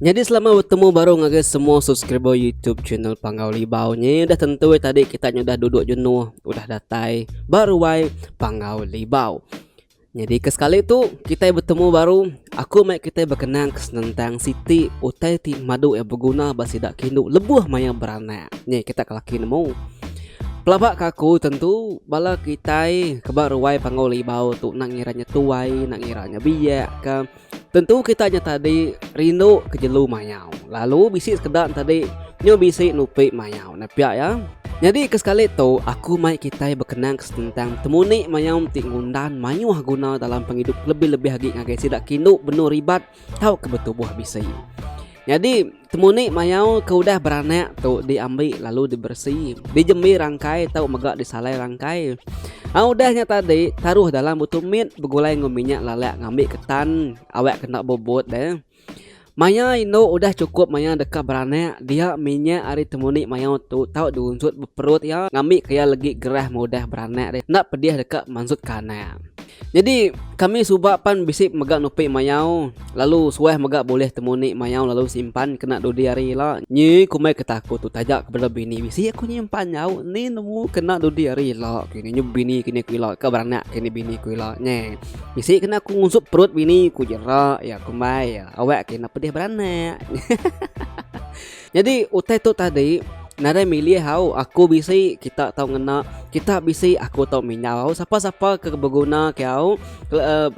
Nyadi selamat betemu baru ngagai semua subscriber YouTube channel Panggau Libau nye. Udah tentu eh tadi kita nye udah duduk jenuh, udah datai baru ai Panggau Libau. Nyadi ke sekali tu kita bertemu baru, aku mai kita berkenang ke senentang siti utai ti madu eh berguna ba sida kindu lebuh maya beranak. Nye kita ke laki nemu. Pelaba ke aku tentu bala kitai ke ba ruai Panggau Libau tu nak ngira nye tuai, nak ngira nye biak ka. Tentu kita nya tadi rindu ke jelu mayau lalu bisi sekeda ne tadi nyu bisi nupi mayau ne pia iya. Nyadi ke sekali tu aku mai kitai bekenang ke senentang betemu ni mayau enti ngundan mayuh guna dalam pengidup kelebih-lebih agi ngagai sida ke indu benung ribat tauka betubuh bisi. Nyadi. Temuni mayau ke udah beranak tu diambi lalu diberesi, dijembi rangkai tau mega disalai rangkai. A udah nya tadi taruh dalam butu mit begulai enggau minyak lalak ngambi ketan awak kena bubut deh. Maya indu udah chukup maya deka beranak dia minyak ari temuni mayau tu tau diunsut beperut iya ngambi ke iya legi gerah maudah beranak deh enda pedih deka mansut ke anak. Nyadi kami suba pan bisi mega nupi mayau lalu suah mega bulih temu ni mayau lalu simpan kena dudi hari ila. Nyi kumbai ke taku tu taja ke bala bini bisi aku nyimpan nyau ni nemu kena dudi hari ila ku ini nyu bini ku ini ku ila ka beranak ke ni bini ku ila nge. Bisi kena ku ngungsup perut bini ku jera iya kumbai iya awak ke enda pedih beranak. Nyadi utai tu tadi nadai milih au aku bisi kita tau ngena kita bisi aku tau minyau sapa sapa ke beguna ke au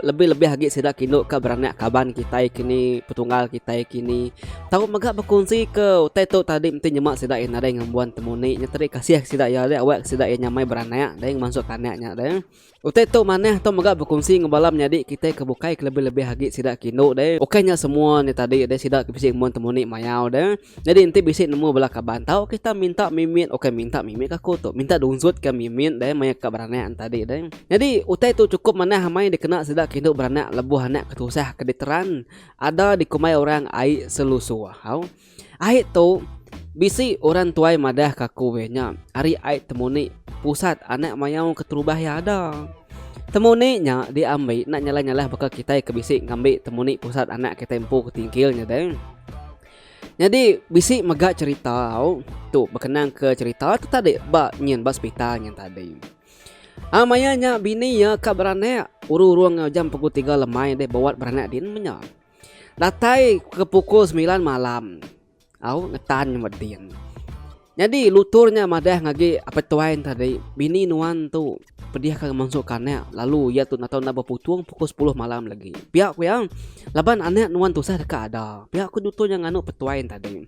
lebih lebih agi sida kindu ka beranak kaban kitai kini petunggal kitai kini tau mega bekunsi ke utai tu tadi enti nyema sida aja nadai ngembuan temuni nya tadi kasih sida aja awak sida nya mai beranak dei ngemansu tanak nya dei. Utai tu manah tu mega bekunsi enggau bala menyadi kitai ke bukai ke lebih-lebih agi sida ke indu deh. Ukai nya semua nya tadi deh sida ke bisi ke mun temuni mayau deh. Nyadi enti bisi nemu bala kaban tau kita minta mimit ukai minta mimit ke aku tu minta dunzut ke mimit deh maya ka beranak nya tadi deh. Nyadi utai tu chukup manah amai dikena sida ke indu beranak lebuh anak ke tusah ke diteran ada dikumbai orang ai selusu ahau. Ai tu, bisi orang tuai madah ke aku weh nya ari ai temu ni pusat anak mayau keterubah iya ada. Temu ni nya diambi enda nyalah-nyalah baka kitai ke bisi ngambi temu ni pusat anak kitai empu ke tingkil nya deh. Nyadi bisi mega cherita au tu bekenang ke cherita tu tadi ba nyin ba sepital nyin tadi. A maya nya bini iya ka beranak, uru-uru enggau jam pukul tiga lemai deh ba wad beranak din menya. Datai ke pukul semilan malam au ngetan nyambat din. Nyadi lutur nya madah ngagi apai tuai ne tadi bini nuan tu pedih ka ngansung ka anak lalu iya tu enda tau enda beputung pukul sepuluh malam lagi. Pia ku iya laban anak nuan tusah deka ada. Pia ku nutur nya nganu petuai ne tadi.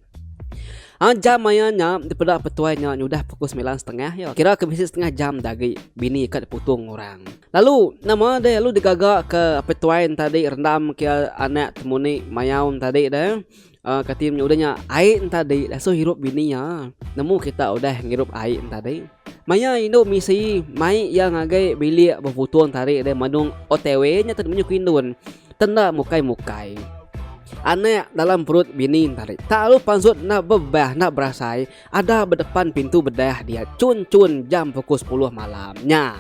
Aaa jam maya nya dipeda petuai nya nyudah pukul semilan setengah iya kira ke bisi setengah jam agi bini ka diputung orang. Lalu nama deh lalu digaga ke apai tuai enta di rendam ke anak temuni mayau enta di deh uh, kati nya udah nya ai enta di lasu hirup bini iya nemu kita udah ngirup ai enta di maya indu misi mai iya ngagai bilik beputung enta di deh manung otw nya tau menyuh ke indun tenda mukai mukai anak dalam perut bini enta di tak lalu pansut enda bebah enda berasai. Ada bedepan pintu bedah dia cun-cun jam pukul sepuluh malam. Nya,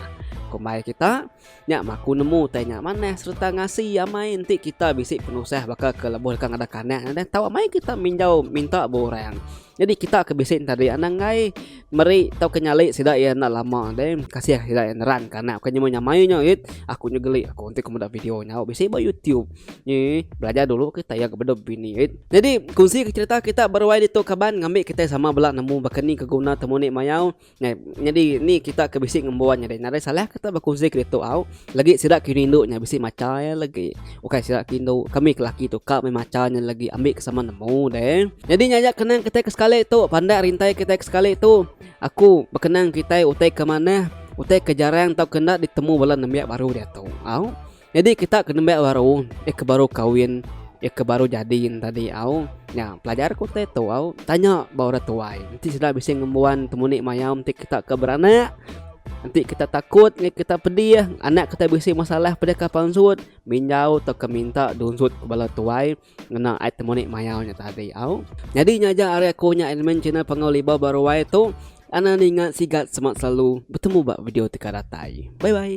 kumbai kita, nya maku nemu utai nya manah sereta ngasi amai enti kita bisi penusah baka ke lebuh deka ngadah kanak ngadah tau amai kita minjau minta ba orang. Nyadi kita ke bisi ntadi anang enggai meri tauka nyali sida iya enda lama deh kasih sida iya neran ke anak ku nyemai nya mayuh nya ait aku nya geli aku enti ku meda video nya bisi ba youtube. Ii, Belajar dulu kita ya kepada bini. It. Jadi, kunsi ke cerita kita beruai ditu kaban ngambil kita sama bela nemu baka ni keguna temu ni mayau. Nah, jadi ni kita ke bisi ngembuan nya deh. Nare salah kita berkunsi ke ditu au. Lagi sida ke rindu nya bisi maca ya lagi. Ukai sida ke rindu kami ke laki tu ka meh maca nya lagi ambil ke sama nemu deh. Jadi nya aja kenang kita ke sekali tu pandak rintai kita ke sekali tu. Aku berkenang kita utai ke manah, utai ke jarang tau kena ditemu bala nembiak baru diatu. Au. Nyadi kita ke nembiak baru, iya ke baru kawin, iya ke baru jadi ne tadi au, nya pelajar ku utai tu au tanya ba orang tuai enti sida bisi ngembuan temuni mayau enti kita ke beranak, enti kita takut ngin kita pedih anak kita bisi masalah peda ka pansut, minjau tauka minta dunsut bala tuai. Ngena ai temu nik mayau nya tadi au. Nyadi nya aja ari aku nya admin channel Panggau Libau ba Ruai tu. Anang ninga sigat semak selalu. Betemu ba video teka datai. Bye bye.